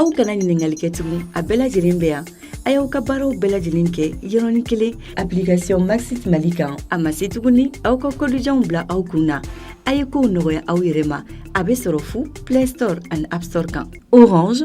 aw kana ɲininkali kɛ tuguni a bɛɛ lajɛlen bɛ yan a y'aw ka baaraw bɛɛ lajɛlen kɛ yɔrɔnin kelen application maxit mali kan a ma se tuguni aw ka kodijanw bila aw kun na a ye kow nɔgɔya aw yɛrɛ ma a bɛ sɔrɔ fu play store ani app store kan orange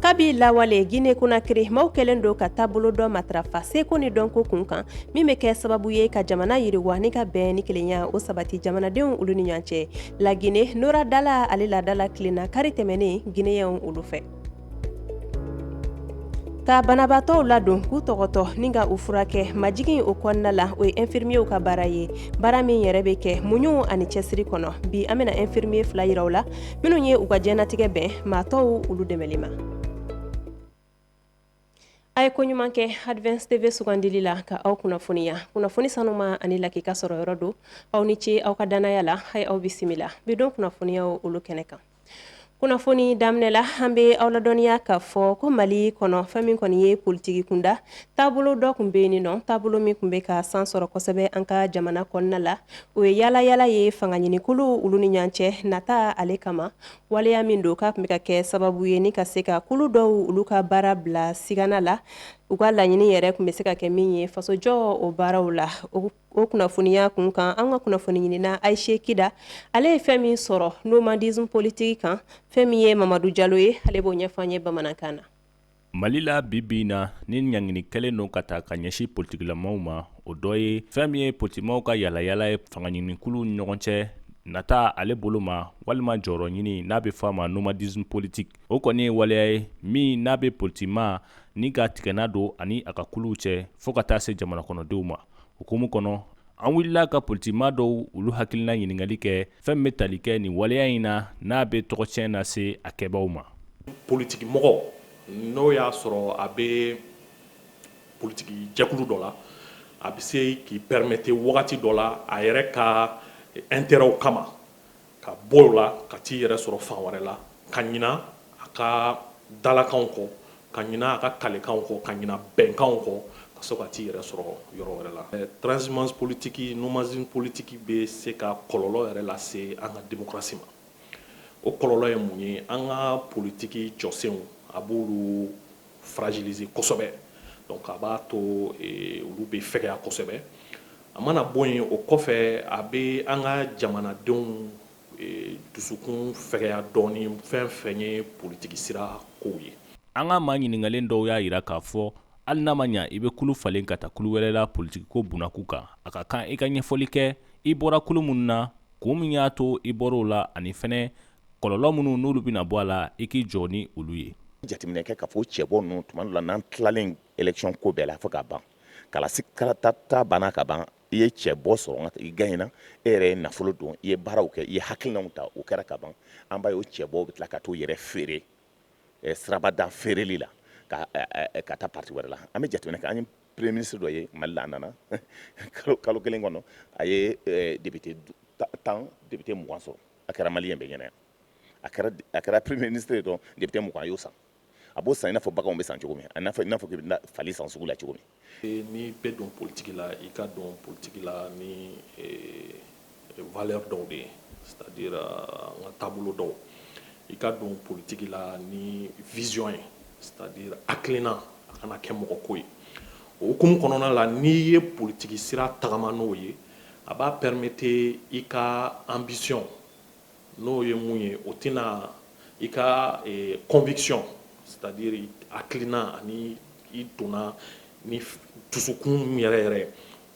kabi lawale guinée conakry maaw kɛlen don ka taabolo dɔ matarafa seko ni dɔnko kunkan min bɛ kɛ sababu ye ka jamana yiriwa ni ka bɛn ni kelenya o sabati jamanadenw olu ni ɲɔgɔn cɛ laginɛ noradala ale ladala kilenna kari tɛmɛnen guinéens olu fɛ ka banabaatɔw ladon k'u tɔgɔtɔ ni ka u furakɛ majigin o kɔnɔna la o ye infirmiers ka baara ye baara min yɛrɛ bɛ kɛ muɲu ani cɛsiri kɔnɔ bi an bɛna infirmier fila yira aw la minnu ye u ka jɛnatigɛ bɛn maa tɔw olu dɛmɛli ma a ye ko ɲuman kɛ advance tv sugandili la ka aw kunnafoniya kunnafoni sanuma ani lakika sɔrɔ yɔrɔ don aw ni ce aw ka dannaya la hayi aw bisimila bi don kunnafoniyaw olu kɛnɛ kan kunnafoni daminɛ la an bɛ aw ladɔnniya k'a fɔ ko mali kɔnɔ fɛn min kɔni ye politiki kunda taabolo dɔ kun bɛ yen nɔ taabolo min kun bɛ ka san sɔrɔ kosɛbɛ an ka jamana kɔnɔna la o ye yaalayaala ye fanga ɲinikulu olu ni ɲɔgɔn cɛ nata ale kama waleya min don k'a kun bɛ ka kɛ sababu ye ni ka se ka kulu dɔw olu ka baara bila sigana la u ka laɲini yɛrɛ kun bɛ se ka kɛ min ye fasojɔ o baaraw la o kunnafoniya kun kan an ka kunnafoni ɲinina ayisa kida ale ye fɛn min sɔrɔ nomadisme politique kan fɛn min ye mamadu jalo ye ale b'o ɲɛfɔ an ye bamanankan na Mali la bi bi in na ni ɲangini kɛlen don ka taa ka ɲɛsin politikilamaw ma o dɔ ye fɛn min ye politikimaw ka yaalayaala ye fanga ɲinikulu ni ɲɔgɔn cɛ nata ale bolo ma walima jɔyɔrɔ ɲini n'a bɛ fɔ a ma nomadisme politique o kɔni ye waleya ye min n'a bɛ politikima ni ka tigɛna don ani a ka kuluw cɛ fo ka taa se jamana kɔnɔdenw ma o hukumu kɔnɔ an wulila ka politikima dɔw olu hakilina ɲininkali kɛ fɛn bɛ tali kɛ nin waleya in na n'a bɛ tɔgɔcɛn lase a kɛbaw ma politikimɔgɔ n'o y'a sɔrɔ a bɛ politiki jɛkulu dɔ la a bɛ se k'i permettre wagati dɔ la a yɛrɛ ka intérêtw kama ka bɔ o la ka t'i yɛrɛ sɔrɔ fan wɛrɛ la ka ɲina a ka dalakanw kɔ ka ɲina a ka kalekanw kɔ, ka ɲina bɛnkanw kɔ, ka sɔrɔ ka t'i yɛrɛ sɔrɔ yɔrɔ wɛrɛ la. Transhumance politique, nomadisme politique, bɛ se ka kɔlɔlɔ yɛrɛ lase an ka demokarasi ma. O kɔlɔlɔ ye mun ye? An ka politiki jɔsenw, a b'olu fragiliser kosɛbɛ, donc a b'a to olu bɛ fɛgɛya kosɛbɛ. A mana bɔ yen, o kɔfɛ, a bɛ an ka jamanadenw Dusukun fɛgɛya dɔɔnin fɛn o fɛn ye politigi sira kow ye an ka maa ɲininkalen dɔw y'a jira k'a fɔ hali n'a ma ɲɛ i bɛ kulu falen ka taa kulu wɛrɛ la politigi ko bunnaku kan a ka kan i ka ɲɛfɔli kɛ i bɔra kulu minnu na kun min y'a to i bɔra o la ani fana kɔlɔlɔ minnu n'olu bɛna bɔ a la i k'i jɔ ni olu ye jateminɛ kɛ k'a fɔ cɛbɔ ninnu tuma la n'an tilalen élection ko bɛɛ la fo ka ban kalata banna ka ban i ye cɛbɔ sɔrɔ i gaɲena e yɛrɛ ye nafolo don i ye baaraw kɛ i ye hakilinaw ta o kɛra ka ban an b'a ye o cɛbɔ bɛ tila ka t'o yɛrɛ feere sirabada feereli la ka taa parti wɛrɛ la an bɛ jateminɛ kɛ an ye premier ministre dɔ ye Mali la a nana kalo kelen kɔnɔ a ye député tan député mugan sɔrɔ a kɛra maliyɛn bɛɛ ɲɛna yan a kɛra premier ministre ye dɔrɔn député mugan a y'o san a b'o san i n'a fɔ bagan bɛ san cogo min i n'a fɔ i bɛ fali san sugu la cogo min n'i bɛ don politigi la i ka don politigi la ni valeur dɔw de ye c'est-à-dire an ka taabolo dɔw i ka don politigi la ni vision ye c'est-à-dire hakilina a kana kɛ mɔgɔ ko ye o hukumu kɔnɔna la n'i ye politigi sira tagama n'o ye a b'a permettre i ka ambition N'o ye mun ye o tɛna i ka conviction c'est-à-dire hakilina ani i donna ni dusukun yɛrɛ yɛrɛ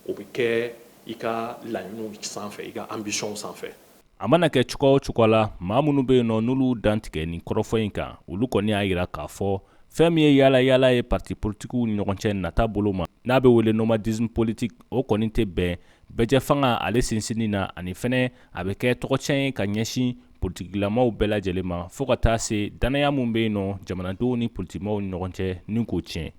o bɛ kɛ i ka laɲiniw sanfɛ i ka ambition sanfɛ a mana kɛ cogoya o cogoya la maa minnu bɛ yen nɔ n'olu dantigɛ nin kɔrɔfɔ in kan olu kɔni y'a jira k'a fɔ fɛn min ye yaala yaala ye parti politigiw ni ɲɔgɔn cɛ nata bolo ma n'a bɛ wele nomadisme politique o kɔni tɛ bɛn bɛɛjɛfanga ale sinsinni na ani fana a bɛ kɛ tɔgɔcɛn ye ka ɲɛsin politigilamaw bɛɛ lajɛlen ma fo ka taa se dannaya min bɛ yen nɔ jamanadenw ni politigimaaw ɲɔgɔn cɛ ni k'o tiɲɛ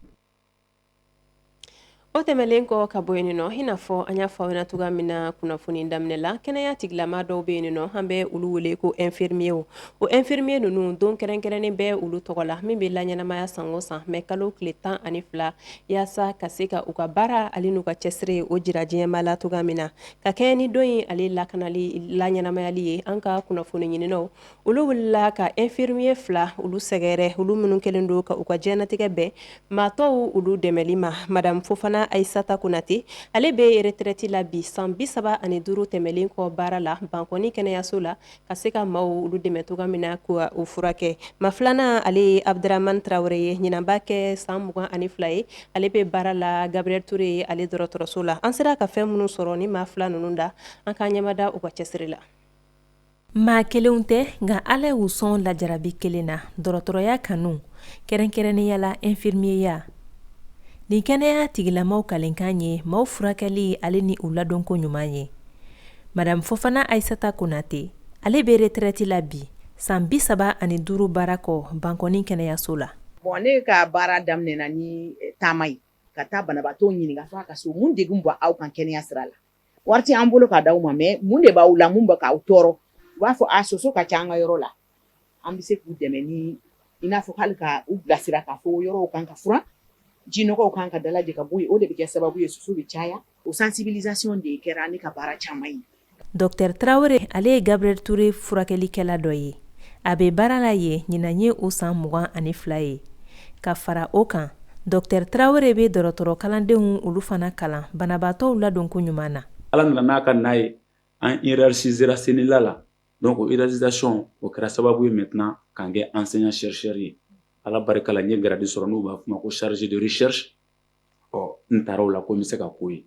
o tɛmɛnlen kɔ ka bɔ yen nɔ i n'a fɔ an y'a fɔ aw ɲɛna cogoya min na kunnafoni daminɛ la kɛnɛya tigilama dɔw bɛ yen nɔ an bɛ olu wele ko ɛnfirimiye o ɛnfirimiye ninnu don kɛrɛnkɛrɛnnen bɛ olu tɔgɔ la min bɛ laɲɛnamaya san o san mɛ kalo tile tan ani fila yaasa ka se ka u ka baara ale n'u ka cɛsiri o jira diɲɛba la cogoya min na ka kɛɲɛ ni don in ale la laɲɛnamayali ye an ka kunnafoni ɲininaw olu wulila ka ɛnfirimiye fila olu sɛgɛrɛ olu minnu kɛlen don ka u ka diɲɛnatigɛ bɛn maa tɔw olu dɛmɛli ma madamu Fofana Ayisata Konate ale bɛ retraite la bi san bi saba ani duuru tɛmɛnlen kɔ baara la Bankɔni kɛnɛyaso la ka se ka maaw olu dɛmɛ cogoya min na ka u furakɛ maa filanan ale ye Abuduramani Tarawele ye ɲinan b'a kɛ san mugan ani fila ye ale bɛ baara la Gabiriyɛli Ture ye ale dɔgɔtɔrɔso la an sera ka fɛn minnu sɔrɔ nin maa fila ninnu da an k'an ɲɛmada u ka cɛsiri la maa kelenw tɛ nka ala y'u sɔn lajarabi kelen na dɔgɔtɔrɔya kanu kɛrɛnkɛrɛnnenya la ɛnfirimiyeya nin kɛnɛya tigilamaw kalenkan ye maaw furakɛli ale ni u ladonko ɲuman ye Madamu Fofana Ayisata Konatɛ ale bɛ retraite la bi san bi saba ani duuru baara kɔ Bankɔni kɛnɛyaso la bon ne ka baara daminɛna ni taama ye ka taa banabaatɔw ɲininka fo ka so mun degun b'aw kan kɛnɛya sira la wari t'an bolo ka d'aw ma mais mun de b'aw la mun bɛ k'aw tɔɔrɔ u b'a fɔ a soso ka ca an ka yɔrɔ la an bɛ se k'u dɛmɛ ni i n'a fɔ hali ka u bilasira k'a fɔ yɔrɔw kan ka furan jinɔgɔw kan ka dalajɛ ka bɔ yen o de bɛ kɛ sababu ye soso bɛ caya o sensibilisation de kɛra ne ka baara caman ye. Docteur Traore ale ye Gabriel Toure furakɛlikɛla dɔ ye, a bɛ baara la yen ɲinan ye o san mugan ani fila ye. Ka fara o kan, Docteur Traore bɛ dɔgɔtɔrɔ kalandenw olu fana kalan banabaatɔw ladonko ɲuman na. Ala nana n'a ka na ye, an hiérarchisera CNELA la. donc o hiérarchisation o kɛra sababu ye maintenant ka n kɛ enseignant chercheur ye Ala barika la n ye grade sɔrɔ n'u b'a fɔ o ma ko chargé de recherche ɔ n taara o la ko n bɛ se ka k'o ye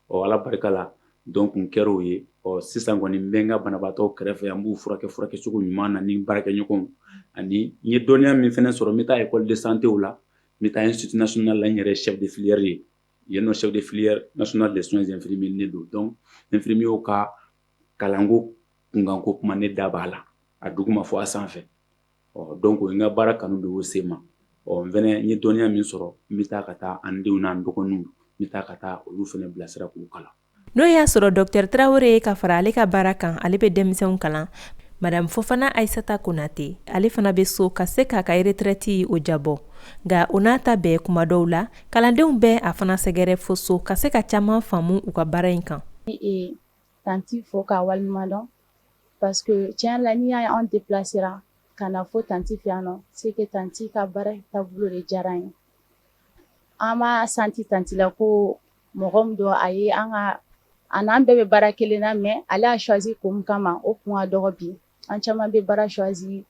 ɔ Ala barika la donc n kɛra o ye ɔ sisan kɔni n bɛ n ka banabaatɔw kɛrɛfɛ yan n b'u furakɛ furakɛ cogo ɲuman na ni n baarakɛɲɔgɔnw ani n ye dɔnniya min fɛnɛ sɔrɔ n bɛ taa école de santé o la n bɛ taa institut national la n yɛrɛ ye chef de filière ye yen nɔ chef de filière national des soins infirmiers ne don donc infirmiers ka kalanko kunkanko kuma ne da b'a la a duguma fo a sanfɛ ɔ donc n ka baara kanu bɛ o sen ma ɔ n fɛnɛ ye dɔnniya min sɔrɔ n bɛ taa ka taa an denw n'an dɔgɔninw bɛ taa ka taa olu fɛnɛ bilasira k'u kalan n'o y'a sɔrɔ Docteur Traore ye ka fara ale ka baara kan ale bɛ denmisɛnw kalan madamu Fofana Ayisata Konatɛ ale fana bɛ so ka se k'a ka retraite o diyabɔ nka o n'a ta bɛɛ kuma dɔw la kalandenw bɛ a fana sɛgɛrɛ fo so ka se ka caman faamu u ka baara in kan Tanti fo k'a waleɲuman dɔn parce que tiɲɛ la n'i y'a ye anw déplacera ka na fo tanti fɛ yan nɔ c'est que tanti ka baara taabolo de diyara n ye an b'a senti tanti la ko mɔgɔ min don a ye an n'an bɛɛ bɛ baara kelen na mais ale y'a choisi ko min kama o kun ka dɔgɔ bi an caman bɛ baara choisi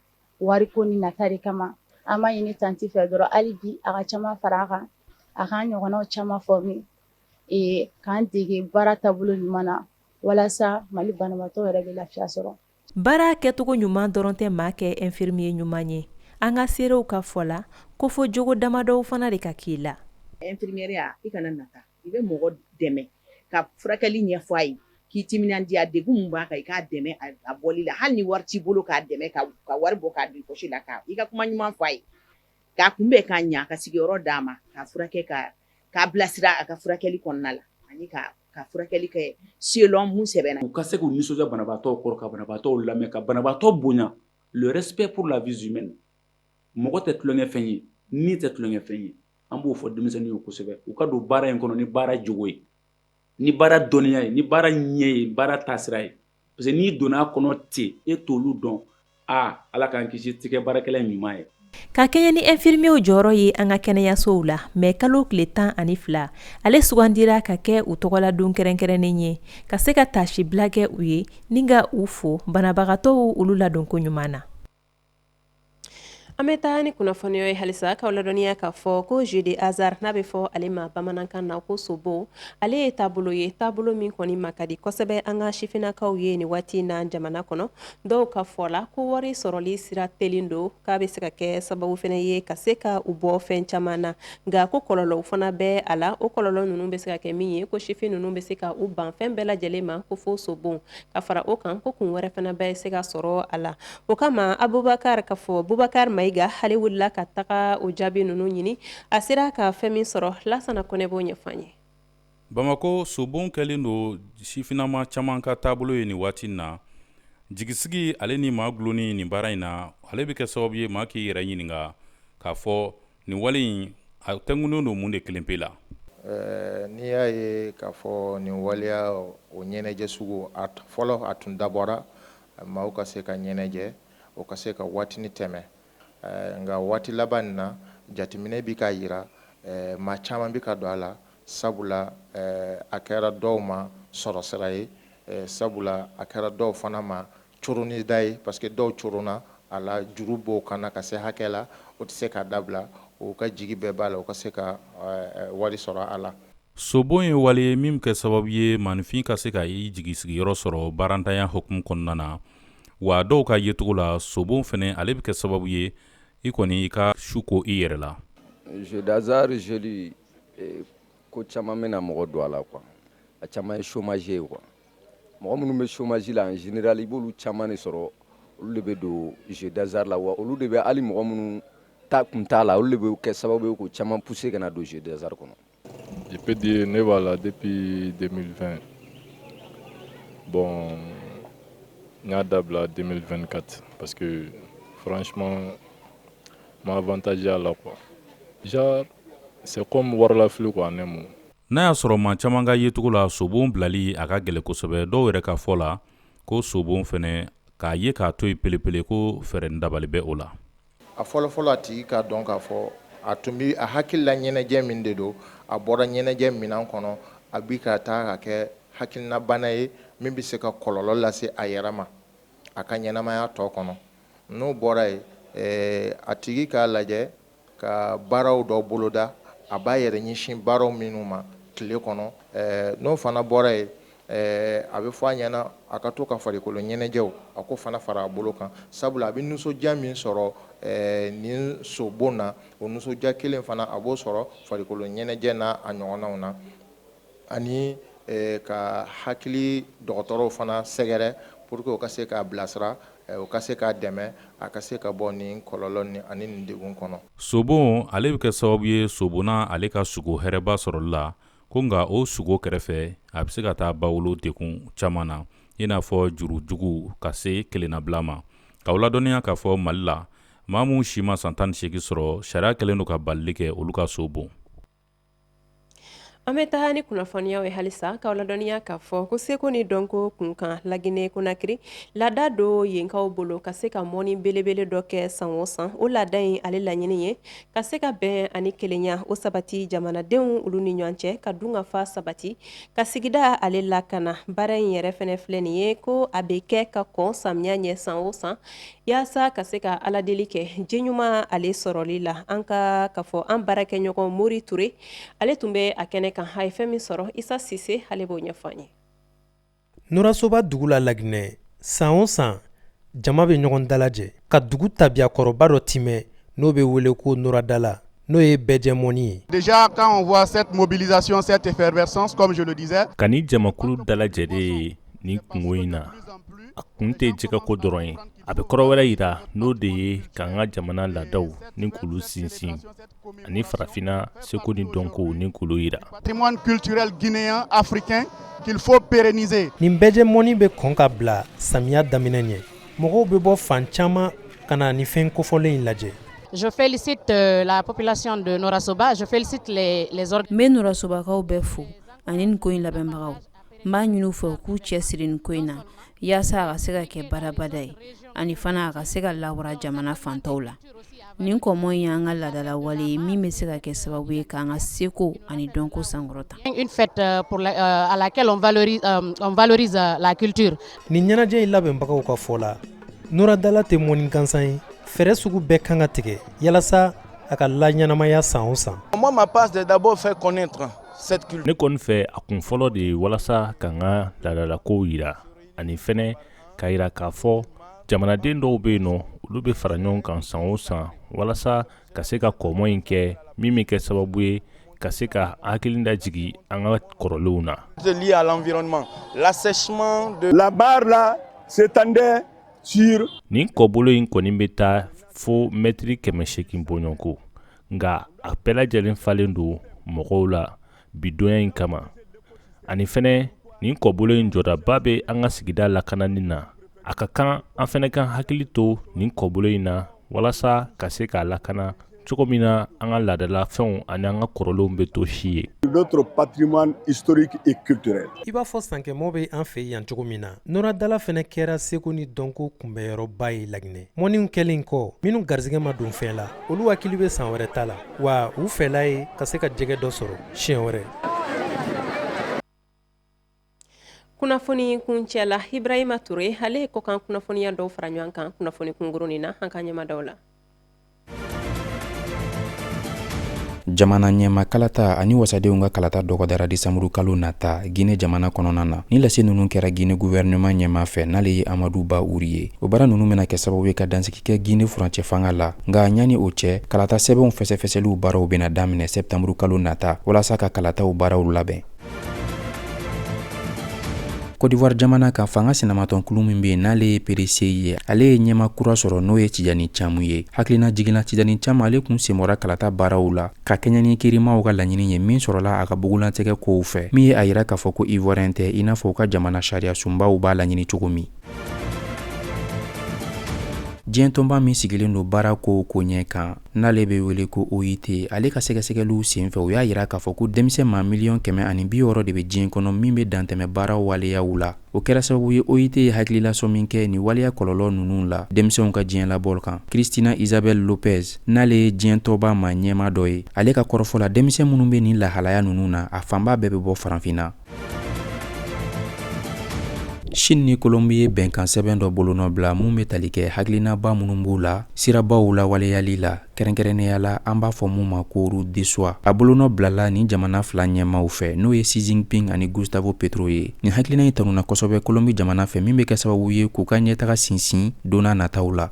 wariko ni nata de kama an b'a ɲini tanti fɛ dɔrɔn hali bi a ka caman fara a kan a k'an ɲɔgɔnna caman former k'an dege baara taabolo ɲuman na walasa mali banabaatɔ yɛrɛ bɛ lafiya sɔrɔ baara kɛcogo ɲuman dɔrɔn tɛ maa kɛ infirmier ɲuman ye an ka seerew ka fɔ la ko fo jogo damadɔw fana de ka k'i la infirmièreya i kana nata i bɛ mɔgɔ dɛmɛ ka furakɛli ɲɛfɔ a ye k'i timinandiya degun min b'a kan i k'a dɛmɛ a bɔli la hali ni wari t'i bolo k'a dɛmɛ ka wari bɔ k'a di poche la k'i ka kuma ɲuman fɔ a ye k'a kunbɛn ka ɲa ka sigiyɔrɔ d'a ma k'a furakɛ ka k'a bilasira a ka furakɛli kɔnɔna la ani ka furakɛli kɛ selon mun sɛbɛnna u ka se k'u nisɔndiya banabaatɔw kɔrɔ ka banabaatɔw lamɛn ka banabaatɔ bonya le respect pour la vie humaine mɔgɔ tɛ tulonkɛ fɛn ye ni tɛ tulonkɛ fɛn ye an b'o fɔ denmisɛnninw ye kosɛbɛ u ka don baara in kɔnɔ ni baara jogo ye ni baara dɔnniya ye ni baara ɲɛ ye baara taasira ye parce que n'i donna a kɔnɔ ten e t' olu dɔn aa ala k'an kisi i tɛ kɛ baarakɛla ɲuman ye ka kɛɲɛn ni infirmierw jɔyɔrɔ ye an ka kɛnɛyasow la mɛ kalo tile tan ani fila ale sugandira ka kɛ u tɔgɔladon kɛrɛnkɛrɛnnen ye ka se ka taasibila kɛ u ye ni ka u fo banabagatɔw olu ladonko ɲuman na an bɛ taa ni kunnafoniw ye halisa k'aw ladɔnniya k'a fɔ ko jeu de hasard n'a bɛ fɔ ale ma bamanankan na ko sobon ale ye taabolo ye taabolo min kɔni ma ka di kosɛbɛ an ka sifinnakaw ye nin waati in na jamana kɔnɔ dɔw ka fɔ la ko wari sɔrɔli sira telen don k'a bɛ se ka kɛ sababu fana ye ka se ka u bɔ fɛn caman na nka ko kɔlɔlɔw fana bɛ a la o kɔlɔlɔ ninnu bɛ se ka kɛ min ye ko sifin ninnu bɛ se ka u ban fɛn bɛɛ lajɛlen ma ko fo sobon ka fara o kan ko kun wɛrɛ fana bɛ se ka sɔrɔ a la O kama abubakari k'a fɔ bubakari mayiga ale wulila ka taga o jaabi ninnu ɲini a sera ka fɛn min sɔrɔ lasana kɔnɛ b'o ɲɛfɔ an ye bamakɔ sobon kɛlen don sifinama caman ka taabolo ye nin waati na jigisigi ale ni maa gulonni nin baara in na ale bɛ kɛ sababu ye maa k'i yɛrɛ ɲininka k'a fɔ nin wale in a tɛnkunnen don mun de kelen pe la n'i y'a ye k'a fɔ nin waleya o ɲɛnajɛ sugu a fɔlɔ a tun dabɔra Maaw ka se ka ɲɛnajɛ u ka se ka waatinin tɛmɛ nka waati laban in na jateminɛ bɛ k'a jira maa caman bɛ ka don a la sabula a kɛra dɔw ma sɔrɔ sira ye sabula a kɛra dɔw fana ma coronida ye parce que dɔw coronna a la juru b'u kan na ka se hakɛ la u tɛ se k'a dabila u ka jigi bɛɛ b'a la u ka se ka wari sɔrɔ a la Sobon ye wale ye min bɛ kɛ sababu ye maaninfin ka se ka i jigisigiyɔrɔ sɔrɔ baarantanya hukumu kɔnɔna na wa dɔw ka yecogo la sobon fɛnɛ ale bɛ kɛ sababu ye i kɔni i ka su ko i yɛrɛ la jeu d'hasard ko caman bɛ na mɔgɔ don a la quoi a caman ye chômage ye quoi mɔgɔ minnu bɛ chômage la en général i b'olu caman de sɔrɔ olu de bɛ don jeu d'hasard la wa olu de bɛ hali mɔgɔ minnu ta kun t'a la olu de bɛ kɛ sababu ye k'u caman pousser ka na don jeu d'hasard kɔnɔ Je peux dire ne b'a la depuis 2020 bon n y'a dabila 2024 parce que franchement n ma avantage y'a la quoi genre c'est comme warilafili quoi en un mot n'a y'a sɔrɔ maa caman ka yecogo la sobon bilali a ka gɛlɛn kosɛbɛ dɔw yɛrɛ ka fɔ la ko sobon fɛnɛ k'a ye k'a to yen pelepele ko fɛɛrɛ ni dabali bɛ o la A fɔlɔfɔlɔ a tigi k'a dɔn k'a fɔ a tun bɛ a hakilila ɲɛnajɛ min de don a bɔra ɲɛnajɛ minan kɔnɔ a bi ka taa ka kɛ hakilinabana ye min bɛ se ka kɔlɔlɔ lase a yɛrɛ ma a ka ɲɛnamaya tɔ kɔnɔ n'o bɔra yen a tigi k'a lajɛ ka baaraw dɔ boloda a b'a yɛrɛ ɲɛsin baaraw minnu ma tile kɔnɔ n'o fana bɔra yen Ɛɛ a bɛ fɔ a ɲɛna a ka to ka farikoloɲɛnajɛw a k'o fana fara a bolo kan sabula a bɛ nisɔndiya min sɔrɔ nin sobon na o nisɔndiya kelen fana a b'o sɔrɔ farikoloɲɛnajɛ n'a ɲɔgɔnnaw na ani ka hakili dɔgɔtɔrɔw fana sɛgɛrɛ pour que u ka se k'a bilasira u ka se k'a dɛmɛ a ka se ka bɔ nin kɔlɔlɔ nin ani nin degun kɔnɔ sobon ale bɛ kɛ sababu ye sobonna ale ka sugo hɛrɛba sɔrɔli la Ko nka o sugo kɛrɛfɛ a bɛ se ka taa ba wolo degun caman na i n'a fɔ jurujugu ka se kelennabila ma k'aw ladɔnniya k'a fɔ mali la maa min si ma san tan ni segin sɔrɔ sariya kɛlen don ka balili kɛ olu ka sobon an bɛ taa ni kunnafoniyaw ye halisa k'aw ladɔnniya k'a fɔ ko seko ni dɔnko kunkan laginɛ konakiri laada don yenkaw bolo ka se ka mɔni belebele dɔ kɛ san o san o laada in ale laɲini ye ka se ka bɛn ani kelenya o sabati jamanadenw olu ni ɲɔgɔn cɛ ka dunkafa sabati ka sigida ale lakana baara in yɛrɛ fɛnɛ filɛ nin ye ko a bɛ kɛ ka kɔn samiya ɲɛ san o san yaasa ka se ka aladeli kɛ ji ɲuman ale sɔrɔli la an ka ka fɔ an baarakɛɲɔgɔn mori ture ale tun bɛ a kɛnɛ kan a ye fɛn min sɔrɔ isa sise ale b'o ɲɛfɔ an ye Norasoba dugu la Laginɛ san o san jama bɛ ɲɔgɔn dalajɛ ka dugu tabiya kɔrɔba dɔ tiimɛ n'o bɛ wele ko noradala n'o ye bɛɛjɛ mɔni ye déjà quand on voit cette mobilisation cette effervescence comme je le disais ka nin jamakulu dalajɛlen ye nin kungo in na a kun tɛ jɛgɛ ko dɔrɔn ye a bɛ kɔrɔ wɛrɛ yira n'o de ye k'an ka jamana laadaw ni k'olu sinsin ani farafinna seko ni dɔnko ni k'olu yira patrimoine culturel guinéen africain qu'il faut pérenniser nin bɛɛjɛ mɔni bɛ kɔn ka bila samiya daminɛ ɲɛ mɔgɔw bɛ bɔ fan caman ka na nin fɛn kofɔlen in lajɛ Je félicite euh, la population de Norasoba, je félicite les, les organes. N bɛ Norasobakaw bɛɛ fo ani nin ko in labɛnbagaw. n b'a ɲini u fɛ u k'u cɛ siri nin ko in na yaasa a ka se ka kɛ badabada ye ani fana a ka se ka lawara jamana fan tɔw la nin kɔmɔn ye an ka laadala wale ye min bɛ se ka kɛ sababu ye k'an ka seko ani dɔnko sankɔrɔta une fête à laquelle on valorise la culture nin ɲɛnajɛ in labɛnbagaw ka fɔ la noradala tɛ mɔni gansan ye fɛɛrɛ sugu bɛɛ kan ka tigɛ yalasa a ka laɲɛnamaya san o san a ma ma pa de dabɔ fɛ kɔn ne kɔni fɛ a kun fɔlɔ de ye walasa k'an ka laadalakow yira ani fɛnɛ k'a yira k'a fɔ jamanaden dɔw bɛ yen n'olu bɛ fara ɲɔgɔn kan san o san walasa ka se ka kɔmɔ in kɛ min bɛ kɛ sababu ye ka se ka hakili da jigin an ka kɔrɔlenw na là s'étendait nin kɔbolo in kɔni bɛ taa fo mɛtiri kɛmɛ segin bɔɲɔgɔnko nka a bɛɛ lajɛlen falen don mɔgɔw la bidonya in kama ani fɛnɛ nin kɔbolo in jɔdaba bɛ an ka sigida lakanani na a ka kan an fɛnɛ k'an hakili to nin kɔbolo in na walasa ka se k'a lakana cogo min na an ka laadala fɛnw ani an ka kɔrɔlenw bɛ to si ye i b'a fɔ sankɛmɔ bɛ an fɛ yan cogo min na nɔra dala fɛnɛ kɛra seko ni dɔnko kunbɛnyɔrɔba ye laginɛ mɔniw kɛlen kɔ minnu garisɛgɛ ma don fɛn la olu hakili bɛ san wɛrɛ ta la wa u fɛla ye ka se ka jɛgɛ dɔ sɔrɔ siɲɛ wɛrɛ kunnafoni kuncɛ la ibrahima ture ale ye kɔkan kunnafoniya dɔw fara ɲɔgɔn kan kunnafoni kunkurunnin na an ka ɲɛmada o la Jamana ɲɛma kalata ani wasadenw ka kalata dɔgɔdara desanburu kalo nata Guinée jamana kɔnɔna na. Nin lase ninnu kɛra Guinée gouvernement ɲɛma fɛ n'ale ye Amadou Bah Oury ye. O baara ninnu bɛna kɛ sababu ye ka dansigi kɛ Guinée furancɛfanga la. Nka ɲani o cɛ, kalata sɛbɛnw fɛsɛfɛsɛliw baaraw bɛna daminɛ septembre kalo nata walasa ka kalataw baaraw labɛn. kɔdiwari jamana ka fanga sinamatɔnkulu min bɛ yen n'ale ye PDCI ye ale ye ɲɛma kura sɔrɔ n'o ye tijani camu ye hakilinajigin na tijani camu ale kun senbɔra kalata baaraw la ka kɛɲɛ ni kirimaw ka laɲini ye min sɔrɔla a ka bugulantigɛ kow fɛ min ye a yira k'a fɔ ko ivoirien tɛ i n'a fɔ u ka jamana sariya sunbaw b'a laɲini cogo min diɲɛ tɔnba min sigilen don baara kow koɲɛ kan n'ale bɛ wele ko OIT, ale ka sɛgɛsɛgɛliw senfɛ u y'a yira k'a fɔ ko denmisɛn maa miliyɔn kɛmɛ ani bi wɔɔrɔ de bɛ diɲɛ kɔnɔ min bɛ dantɛmɛ baara waleyaw la. O kɛra sababu ye OIT ye hakililasɔmi kɛ nin waleya kɔlɔlɔ ninnu la denmisɛnw ka diɲɛ labɔli kan. Cristina Isabel Lopez, n'ale ye diɲɛ tɔnba maa ɲɛmaa dɔ ye, ale ka kɔrɔfɔ la, denmisɛn minnu bɛ nin lahalaya ninnu na, a fanba bɛɛ bɛ bɔ Farafinna. Sini ni kolonbi ye bɛnkansɛbɛn dɔ bolonɔ bila min bɛ tali kɛ hakilinaba minnu b'u la sirabaw la waleyali la kɛrɛnkɛrɛnnenya la an b'a fɔ min ma ko route de soie a bolonɔ bilala nin jamana fila ɲɛmaw fɛ n'o ye xi jinping ani gustavo petro ye nin hakilina in tanuna kosɛbɛ kolonbi jamana fɛ min bɛ kɛ sababu ye k'u ka ɲɛtaga sinsin donna nataw la